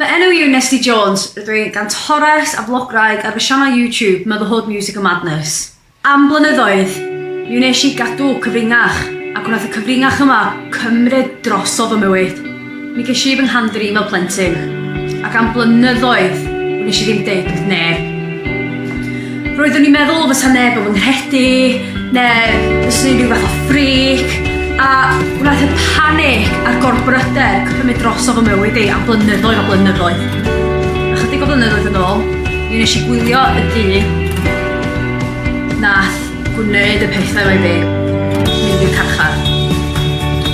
Fy enw i yw Nesty Jones, rydw i gan Torres a Vlogwraig ar fy sianel YouTube Motherhood Music and Madness. Am blynyddoedd, mi wnes i gadw cyfringach, ac wnaeth y cyfringach yma cymryd drosodd fy mywyd. Mi ges i fy nghamdrin fel plentyn, ac am blynyddoedd wnes i ddim deud wrth neb. Roeddwn i'n meddwl fysa neb yn fy nghredu, neu fysa rhyw fath o ffric, a wnaeth y panic a'r gorbryder cymryd dros o fy mywyd i am blynyddoedd a blynyddoedd. Ychydig o flynyddoedd yn ôl, mi nes i gwylio y dyn nath gwneud y pethau oedd ei mynd i'r carchar.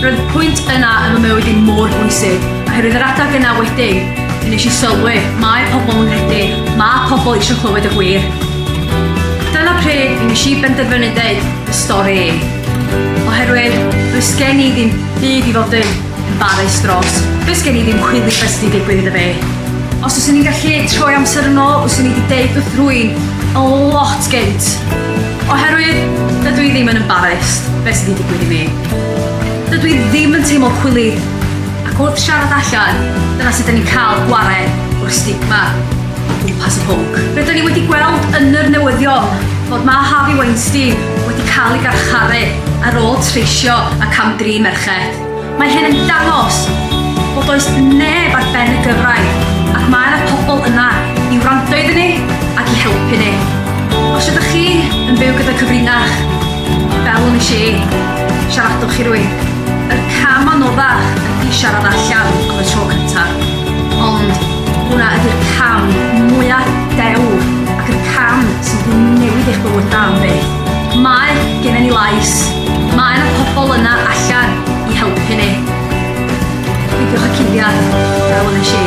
Roedd y pwynt yna yn y mywyd i'n mor bwysig, oherwydd yr adag yna wedyn, Nes i sylwi, mae pobl yn nghredu, mae pobl eisiau clywed y gwir. Dyna pryd nes i benderfynu dweud y stori i. Oherwydd, does gen i ddim byd i fod yn embarrassed dros. Does gen i ddim chwili beth sy'n digwydd iddo fi. Os oes i'n gallu troi amser yn ôl, oes i'n wedi deud wrth rwy'n a lot gynt. Oherwydd, dydw i ddim yn embarrassed beth sydd wedi digwydd i mi. Dydw i ddim yn teimlo chwili Ac wrth siarad allan, dyna sut 'da ni'n cael gwared o'r stigma o gwmpas y pwnc. Rydyn ni wedi gweld yn yr newyddion fod mab Harvey Weinstein wedi cael ei garcharu ar ôl treisio a cam-drin merched. Mae hyn yn dangos bod does neb ar ben y gyfraith ac mae yna pobl yna i wrando iddyn ni ac i helpu ni. Os ydych chi yn byw gyda cyfrinach, fel yn y lle, siaradwch i rywun. Y cam anoddach ydy siarad allan am y tro cyntaf, ond hwnna ydy'r cam mwya dewr ac y cam sy'n mynd i newid eich bywydau am byth. Mae gennym ni lais, mae yna pobl yna allan i helpu ni. Peidiwch â cuddiad, fel yn y si.